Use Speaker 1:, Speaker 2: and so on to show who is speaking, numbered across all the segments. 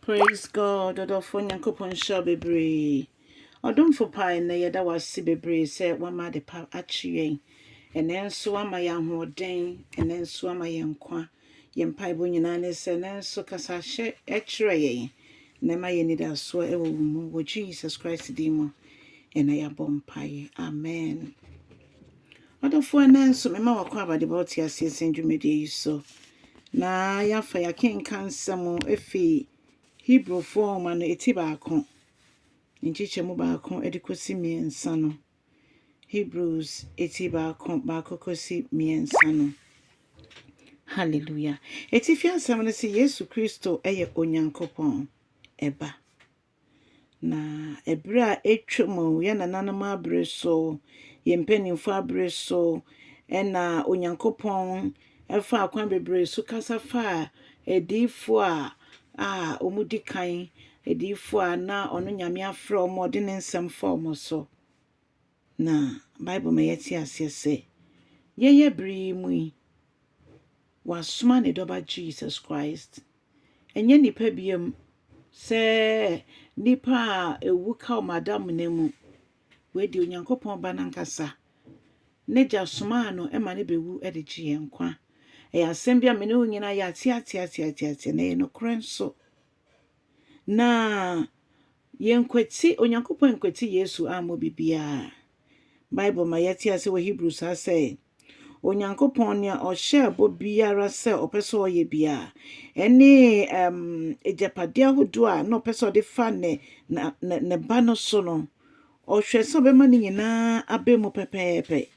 Speaker 1: Praise God ɔdɔfoɔ Nyankopɔn nhyira wo bebree ɔdomfo paa ɛnɛ yɛda wo ase bebree sɛ wama ade pa akye yɛn ɛnɛ nso wama yɛn ahoɔden ɛnɛ nso wama yɛn nkwa yɛn mpaebɔ nyinaa ne sɛ ɛnɛ nso kasa hyɛ ɛkyerɛ yɛn na ɛma yɛn anidasoɔ ɛwɔ wo mu wɔ Jesus Christ din mu ɛna yɛabɔ mpaeɛ amen Adɔfoɔ ɛnnɛ nso mema w'akwaaba de ba wo te aseɛ sɛn dwumadie yi so na yɛafa yɛakenka nsɛm ɛfi Hebrewfoɔ nwoma no ɛti baako nkyekyɛ mu baako de kɔsi mmiɛnsa no Hebrews ɛti baako baako kɔsi mmiɛnsa no Hallelujah ɛtifi asɛm no sɛ Yesu Kristo ɛyɛ Onyankopɔn ɛba Na bere a atwam o, yɛn nananom abere so, yɛn mpanimfoɔ abere so na Onyankopɔn faa kwan bebree so kasa faa adiyifoɔ a a wɔdi kan, adiyifoɔ a na ɔno Nyame afrɛ wɔn a ɔde ne nsɛm fa wɔn so. Na Bible ma yɛte aseɛ sɛ, yɛyɛ bere yi mu yi, wasoma ne dɔba Jesus Christ. Ɛnyɛ nnipa biam sɛ nnipa a ɛwu ka wɔn adamena mu. Wei deɛ Onyankopɔn ba no ankasa, n'agya somaa no ma no bɛwu de gye yɛn nkwa. Ɛyɛ asɛm bi a me ne wo nyinaa yɛateateateateateateɛ na ɛyɛ nokorɛ nso. Na Yɛnkwati, Onyankopɔn ankwati Yesu ammɔ biribiara. Bible ma yɛte ase wɔ Hebrews ha sɛ, Onyankopɔn, nea ɔhyɛɛ bɔ biara sɛ ɔpɛ sɛ ɔyɛ biara, ɛne um, agyapade ahodoɔ a na ɔpɛ sɛ ɔde fa ne, na, ne, ne ba no so no, ɔhwɛ sɛ ɔbɛma ne nyinaa abɛ mu pɛpɛɛpɛ.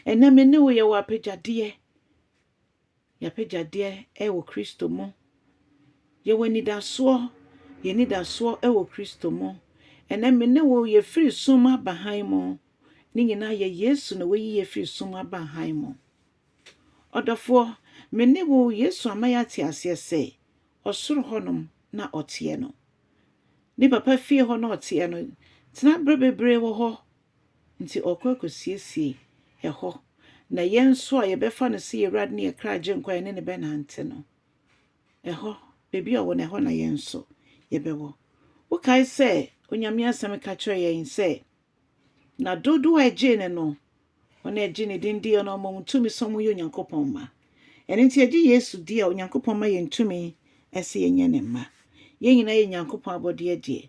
Speaker 1: Ɛnɛ me ne wo yɛwɔ apagyadeɛ. Y'apɛgyadeɛ wɔ Kristo mu. Yɛwɔ anidasoɔ, yɛn anidasoɔ wɔ Kristo mu. Ɛnnɛ me ne wo yɛfiri sum aba hann mu. Ne nyinaa yɛ Yesu na wayi yɛn afiri sum aba hann mu. Ɔdɔfoɔ, me ne wo Yesu ama yɛate aseɛ sɛ, ɔsoro hɔnom na ɔteɛ no. Ne Papa fie hɔ na ɔteɛ no. Tena berɛ bebree wɔ hɔ. Nti ɔɔkɔ akɔsiesie ɛhɔ. Na yɛn nso a yɛbɛfa no sɛ yɛn Awurade ne yɛn kra Agyenkwa a yɛne no bɛnante no, ɛhɔ, baabi a ɔwɔ no, ɛhɔ na yɛn nso yɛbɛwɔ. Wokae sɛ Onyame Asɛm ka kyerɛɛ yɛn sɛ, Na dodoɔ a ɛgyee no no, wɔn a ɛgye ne din die no, ɔma wɔn tumi sɛ wɔyɛ Onyankopɔn mma. Ɛno nti yɛgye Yesu di a, Onyankopɔn ma yɛn tumi sɛ yɛnyɛ ne mma. Yɛn nyinaa yɛ Nyankopɔn abɔdeɛ deɛ.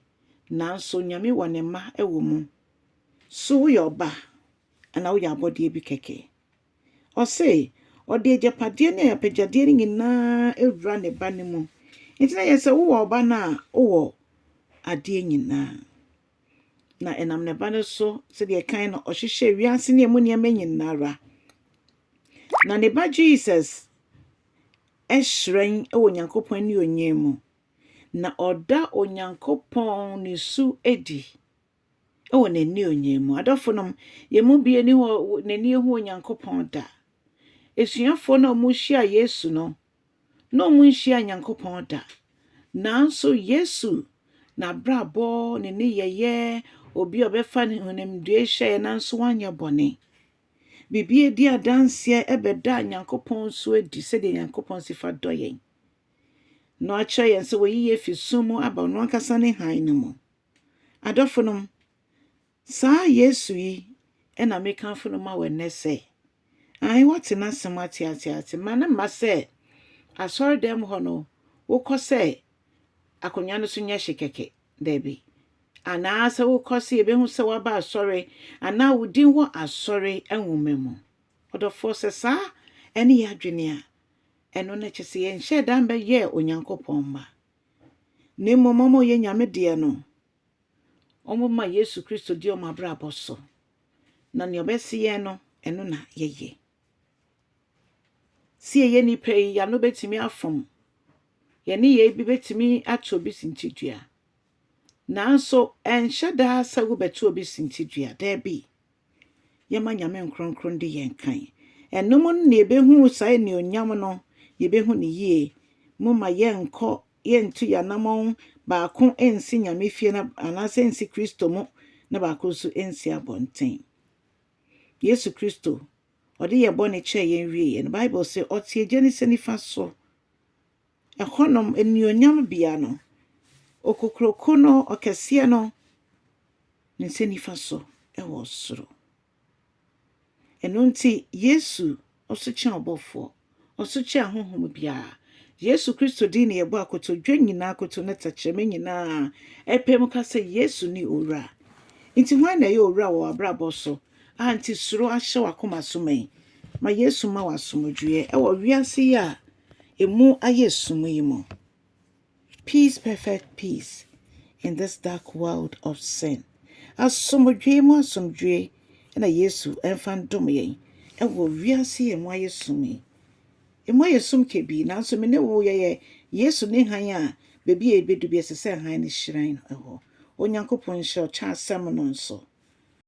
Speaker 1: nanso Nyame wɔ ne mma wɔ mu. So woyɛ ɔba anaa woyɛ abɔdeɛ bi kɛkɛ? Ɔse, ɔde agyapadeɛ ne apagyadeɛ no nyinaa awura ne ba no mu. Nti na yɛ sɛ wowɔ ɔba no a, wowɔ adeɛ nyinaa. Na ɛnam ne ba no so, sɛdeɛ kan no ɔhyehyɛ wiase ne ɛmu nneɛma nyinara. Na ne ba Jesus ɛhyerɛn wɔ Nyankopɔn ne onyie mu. na ɔda Onyankopɔn ne su adi wɔ n'anuonyam mu. Adɔfonom, yɛn mu bi ani hɔ n'ani ehu Onyankopɔn da. Asuafoɔ no a wɔhyia Yesu no, na wɔnhyia Nyankopɔn da. Nanso Yesu n'abrabɔ ne nneyɛeɛ, obi a ɔbɛfa ne honimdue hyɛeɛ nanso wanyɛ bɔne. Biribi adi adanseɛ ɛbɛda Nyankopɔn su adi sɛdeɛ Nyankopɔn si fa dɔ yɛn. na ɔakyerɛ yɛn sɛ oeyi yɛn efi sum mu aba ɔno ankasa ne hann no mu. Adɔfonom, saa Yesu yi na mekamfo no ma wo nnɛ sɛ, ae, wɔatse n'asɛm atseatse ase. Ma no mma sɛ asɔrdan mu hɔ no wokɔ sɛ akonnwa no so nyɛ hye kɛkɛ, dabi, anaa sɛ wokɔ sɛ yebehu sɛ woaba asɔre anaa wo din wɔ asɔre nwoma mu. Ɔdɔfoɔ, sɛ saa ne yɛn adwene a, Ɛno no kyerɛ sɛ yɛnhyɛɛ da mbɛyɛɛ Onyankopɔn mma, na mbom wɔn a wɔyɛ Nyame deɛ no, wɔma Yesu Kristo di wɔn abrabɔ so, na nea ɔbɛse yɛn no, ɛno na yɛyɛ. Sɛ yɛyɛ nnipa yi, yɛano bɛtumi afom, yɛn nneyɛe bi bɛtumi ato obi sintidua, nanso ɛnhyɛ da sɛ wobɛto obi sintidua, daabi. Yɛma Nyame nkronkron de yɛn kan. Ɛnom no na yɛbɛhu saa anuonyam no, yɛbɛhu no yie. Momma yɛnkɔ, yɛntu yɛanamɔn, baako nsi Nyame fie na, anaasɛ nsi Kristo mu na baako nso nsi abɔnten. Yesu Kristo, Ɔde yɛn bɔne kyɛɛ yɛn wieeɛ no, Bible se, Ɔte Agya ne nsa nifa so. Hɔnom anuonyam bea no. Okokuroko no, Ɔkɛseɛ no, ne nsa nifa so wɔ soro. Ɛno nti, Yesu ɔso kyɛn ɔbɔfoɔ, ɔso kyɛn ahonhom biara. Yesu Kristo din na yɛbɔ a kotodwe nyinaa, akoto ne tɛkyerɛma nyinaa ɛpae mu ka sɛ Yesu ne Owura. Nti hwan na ɛyɛ Owura wɔ w'abrabɔ so a nti suro ahyɛ w'akoma so ma yi? Ma Yesu mma wo asomdwoeɛ wɔ wiase yi a emu ayɛ sum yi mu. Peace perfect peace in this dark world of sin asomdwoe mu asomdwoe na Yesu mfa ndom yɛn wɔ wiase yi a emu ayɛ sum yi. Emu ayɛ sum kabii nanso me ne wo yɛyɛ Yesu ne hann a baabi a yɛbɛdu bi ɛsɛ sɛ hann no hyerɛn hɔ. Onyankopɔn nhyira wo kyɛ asɛm no nso.